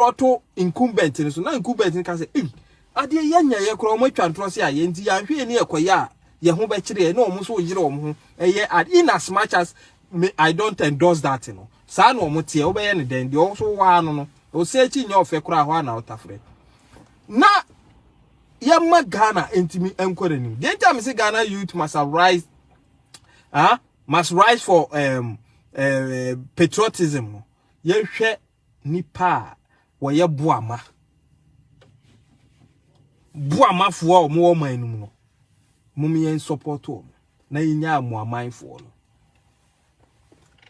ɔto incumbent no so na incumbent no ka sɛ ei adeɛ yɛanya yɛ koraa wɔn atwa ntorɔ se ayɛ nti yɛanhwɛ ani ɛkɔyɛ a yɛn ho bɛkyerɛ na wɔn nso yere wɔn ho ɛyɛ ad in as much as me i don't endorse that no saa na wɔn teɛ wobɛyɛ ne dɛn deɛ ɔso waa no no ɔsɛ akyi nyɛ ɔfɛ koraa hɔ a na ɔtafrɛ na yɛma ghana ntumi nkɔ n'anim deɛ nti a mese ghana youth must arise ah, must rise for um, uh, patriotism no yɛhwɛ nipa a wɔyɛ boama boamafoɔ a wɔwɔ ɔman no mu no mom yɛn support wɔn na yɛnya mo amanfoɔ no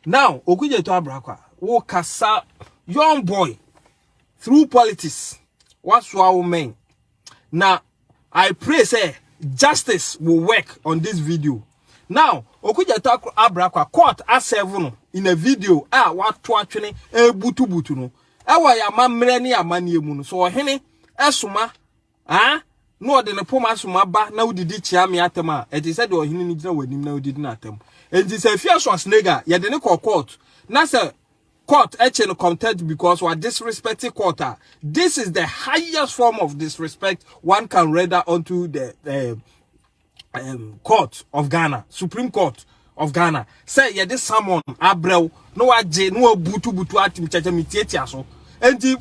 now okugyeto abrakwa wo kasa young boy Through politics wasoa wo mɛn na I pray sɛ justice will work on this video now Okugyata abra kwa court asɛvo no in a video a wato atwene ɛbutubutu no ɛwɔ yɛ amammerɛ ne yɛ amanneɛ mu no so ɔhene ɛsoma Aa, na ɔde ne poma som aba na wodidi kyea me atam a, ɛte sɛ deɛ ɔhene no gyina w'anim na wodidi n'atam. Enti sɛ afie so asnega a, yɛde ne kɔ court. Na sɛ court kye no contempt because wa disrespect court a, this is the highest form of disrespect one can render unto the uh, um, court of ghana supreme court of ghana sɛ yɛde samon abrɛw na wagye na wabutubutu atim kyɛkyɛ metiatia so nti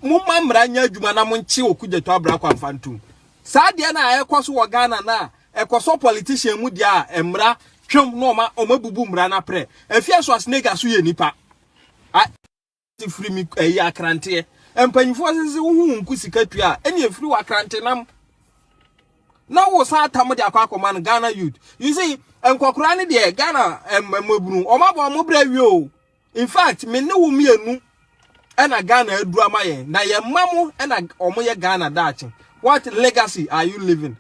momma mmara nyɛ adwuma na monkye okugyato abra kɔ amfa ntom saa deɛ no a ɛkɔ so wɔ ghana no a ɛkɔ so politician mu deɛ a mmara twɛm na ɔma ɔma bubu mmara no aprɛ afia so asenega so yɛ nipa firi me ayi akranteɛ mpanyinfoɔ sɛ sɛ wohu wo nko sika tua a ɛne ɛfiri wɔ akrante nam na wo san atam de akɔ akɔma no Ghana youth you see nkɔkoraa no deɛ Ghana mmabunu wɔn abɔ wɔn brɛ awie o in fact me ne wo mmienu ɛna Ghana aduru ama yɛn na yɛn mma mo ɛna wɔn yɛ Ghana daakye what legacy are you living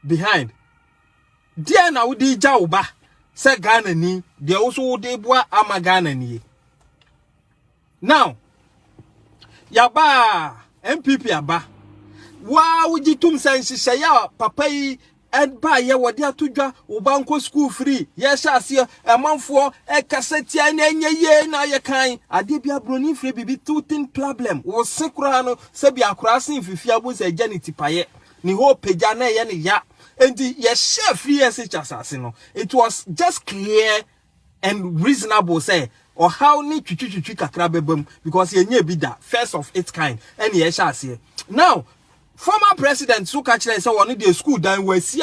behind Deɛn na wode regya wo ba sɛ Ghanani deɛ wo so wode boa ama Ghana nie. Now yaba NPP aba waa wogye tom sɛ nhyehyɛeɛ a papa yi ɛbaayɛ wɔde ato dwa wo ba nkɔ school free yɛhyɛ aseɛ ɛmanfoɔ ɛkasa tia na ɛnyɛ yie na ayɛ kan adeɛ bi aburoni mfiri biribi to tin problem wo se koraa no sɛbi akoraa se mfifia bu sɛ ɛgya ne tipaeɛ ne whole pagya na ɛyɛ ne ya enti yɛhyɛ free SH asase no it was just clear and reasonable sɛ ɔhaw ne twitwitwitwi kakra bɛba mu because yɛnyɛ bi da first of its kind ɛne yɛhyɛ aseɛ now former president so ka kyerɛ sɛ wɔn deɛ school dan wɔasi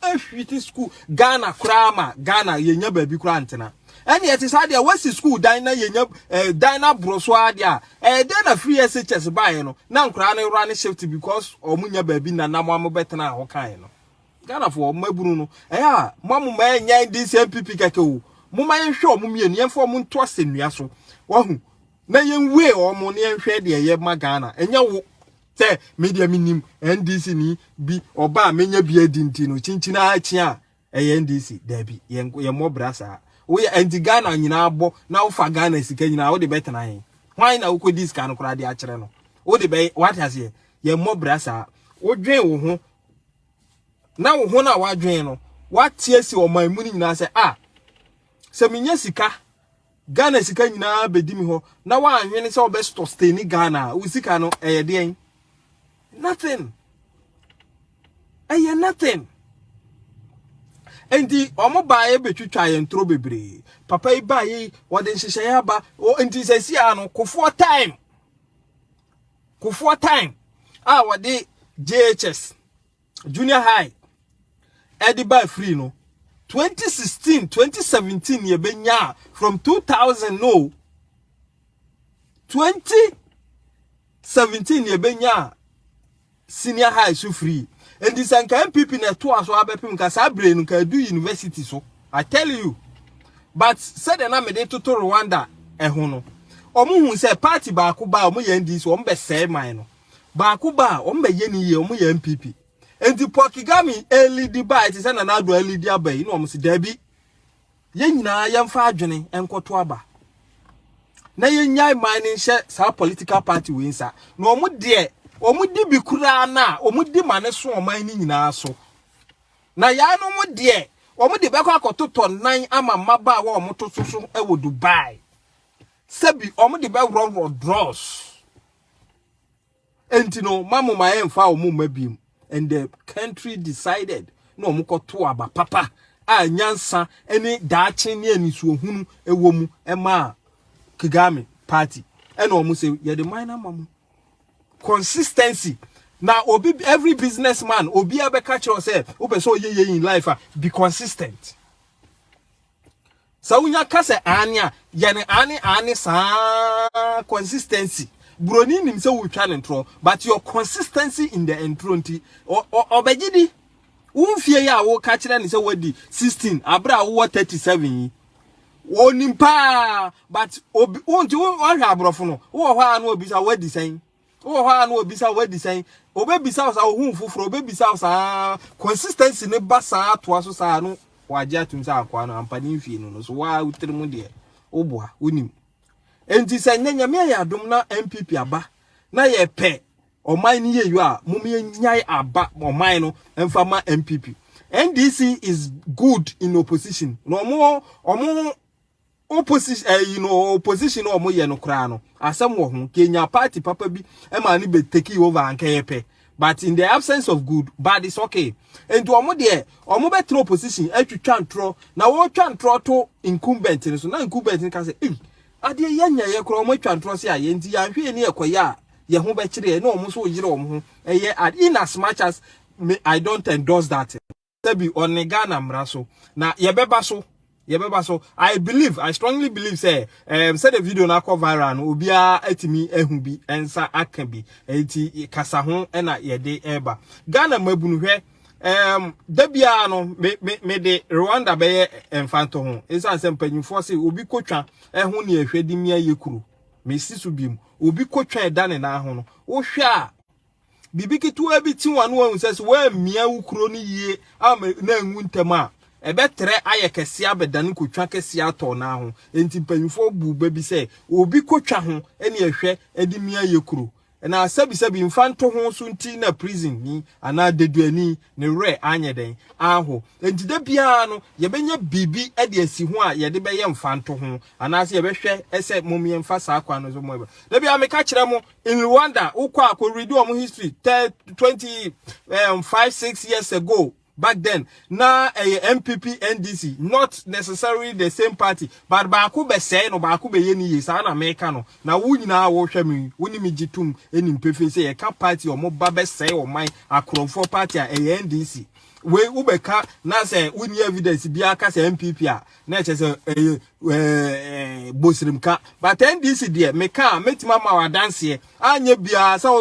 ahwiti school Ghana koraa ma Ghana yɛnya baabi koraa ntena. Ɛnneɛ ɛte saa deɛ wɔasi sukuu dan na yɛnya eh, dan no aborɔ so ara deɛ a, ɛyɛ dɛn na firi SHS baeɛ no na nkoraa no wura ne shift because wɔn nya baabi na na moamo bɛtenaa hɔ kan no. Ghanafoɔ, mmabunu no, ɛyɛ a moamo ma ɛnyɛ NDC NPP kɛkɛ o, moma yɛnhwɛ wɔn mmienu, yɛmfa wɔn nto asɛnnua so, wahu, na yɛnwue wɔn na yɛnhwɛ deɛ ɛyɛ ma Ghana, ɛnyɛ wo sɛ me deɛ menim NDC ni bi ɔba a menya bi adi nti no, kyinkyin ara kyi a Ɛyɛ NDC? Dabi, yɛmmɔ bra saa. Woyɛ anti Ghana nyinaa abɔ na wofa Ghana sika nyinaa wode bɛtena he? Hwan na wokɔdi sika no koraa de akyerɛ no? Wode bɛ, wate aseɛ? Yɛmmɔ bra saa. Wodwen wo ho na wo ho no a woadwen no, woate asi ɔman mu no nyinaa sɛ, ah, sɛ menya sika Ghana sika nyinaa bedi me hɔ na wanhwene sɛ ɔbɛ sustain Ghana a wo sika no ɛyɛ deɛn nothing ɛyɛ nothing nti ɔmo baayɛ betwitwa yɛn toro bebree papa yi baayɛ yi wɔde nhyehyɛeɛ aba nti sɛ si a no kofoɔ time kofoɔ time a wɔde JHS junior high ɛde ba free no 2016 2017 ne ɛbɛnya from 2000 no 2017 ne ɛbɛnya senior high so free ɛnti sɛ nka mpp na ɛtoa so abɛpem nka saa bere no nka ɛdu university so i tell you but sɛdeɛ na mede toto rwanda ɛho no wɔn hu sɛ party baako ba wɔn yɛ ndi so wɔn bɛsɛe man no baako ba a wɔn bɛyɛ ne yie wɔn yɛ npp nti paul kigami ɛlidi ba ɛte sɛ nana ado ɛlidi aba yi na wɔn si daabi yɛn nyinaa yɛn fa adwene nkɔto aba na yɛn nyae man ne nhyɛ saa political party wei nsa na wɔn deɛ wɔn di bi koraa na wɔn di ma ne so ɔman ne nyinaa so na yɛn no wɔn deɛ wɔn de bɛkɔ akɔtotɔ nan ama mmabaawa wɔn to so so ɛwɔ dubai sɛbi wɔn de bɛworɔworɔ drɔs. enti no ma mo ma yɛmfa wɔn mma biem and the country decided na wɔn kɔto aba papa a nyansa ne daakye ne anisuohunu wɔ mu ɛmaa Kagame party ɛna wɔn sɛ yɛde man no ama mo consistency na obi every businessman obi abɛka kyerɛ sɛ wopɛ sɛ ɔyɛ yɛ in life a be consistent Sɛ wonya ka sɛ aane a, yɛ no aane aane saa consistency. Buroni nim sɛ wotwa ne ntorɔ but your consistency in the ntorɔ nti ɔbɛgye di. Wo mfie yi a woka kyerɛ ne sɛ wadi 16 abere a wowɔ 37 yi wɔnim paa but obi wonti wohwɛ aborɔfo no wowɔ hɔ a na obisa wadi sɛn Wowɔ hɔ a na wɔbisa wo adi sɛn? Wɔbɛbisa wo saa, wohu wo foforɔ, wɔbɛbisa wo saa, consistency no ba saa atoa so saa no wɔagye atom sɛ akoa no ampa ne mfie no no so waa wo tiri mu deɛ woboa wonim. Enti sɛ nyɛ nyame ayɛ adom na NPP aba na yɛpɛ ɔman no yɛyɔ a mom yɛnyae aba ɔman no mfa ma NPP. NDC is good in opposition na ɔmo ɔmo Opposition ɛyi no opposition no wɔn yɛ no koraa no asɛm wɔ ho kenya party papa bi ɛma ne bɛ take over anka yɛ pɛ but in the absence of good bad is okay nti wɔn deɛ wɔn bɛ tena opposition atwitwa ntorɔ na wɔtwa ntorɔ to incumbent no so na incumbent no ka sɛ ei adeɛ yɛ nya yɛ koraa wɔn atwa ntorɔ se ayɛ nti yɛn ahwɛ ni ɛkɔ yɛ a yɛ ho bɛ kyerɛ yɛ na wɔn nso yere wɔn ho ɛyɛ ad in as much as me I don't endorse that. Dabi, ɔne Ghana mmara so. Na yɛbɛba so. Yɛbɛba so. I believe, I strongly believe sɛ um, sɛdeɛ video no akɔ viral no, obiara atumi ahu bi, nsa aka bi. Enti kasa ho na yɛde ɛreba. Ghana mmabunu hwɛ, um, da biara no, me, me, me de Rwanda bɛyɛ mfantɔ ho. Ɛsiane sɛ mpanyinfoɔ se obi kotwa ɛho ne ɛhwɛ de mia yɛ kuro. Mesi so biom. Obi kotwa ɛda ne nan ho no, wohwɛ a, biribi ketewa bi te w'ano ahu sɛ sɛ woammia wo kuro no yie ama na anwu ntɛm a, ɛbɛtrɛ ayɛ kɛseɛ abɛdane kotwa kɛseɛ atɔ no ara ho. Enti mpanimfoɔ buu bɛ bi sɛ, obi kotwa ho ne ɛhwɛ de mia yɛ kuro. Na sɛbisɛbi mfa nto ho so nti na prisonni anaa deduani ne werɛ anyɛ dɛn anho. Enti da biara no, yɛbɛnya biribi de asi ho a yɛde bɛyɛ mfa nto ho, anaasɛ yɛbɛhwɛ sɛ mom yɛmfa saa kwan no so. Da biara meka kyerɛ mo, In Rwanda, wo kɔ a, kɔ read wɔn history, tɛ twenty um, five six years ago. Back then, na ɛyɛ MPP NDC, not necessarily the same party, but baako bɛsɛe no, baako bɛyɛ ne yie, saa na meka no. Na wo nyinaa wɔhwɛ me, wo ne me gye tom nim pefee sɛ yɛka party a wɔn ba bɛsɛe ɔman, akorɔmfoɔ party a ɛyɛ NDC. Wei wobɛka na sɛ wonni evidence biara ka sɛ MPP a, na ɛkyɛ sɛ ɛyɛ ɛɛ bosirem ka but ndc deɛ meka a mɛtumi ama wɔ adanseɛ anyɛ biara sɛ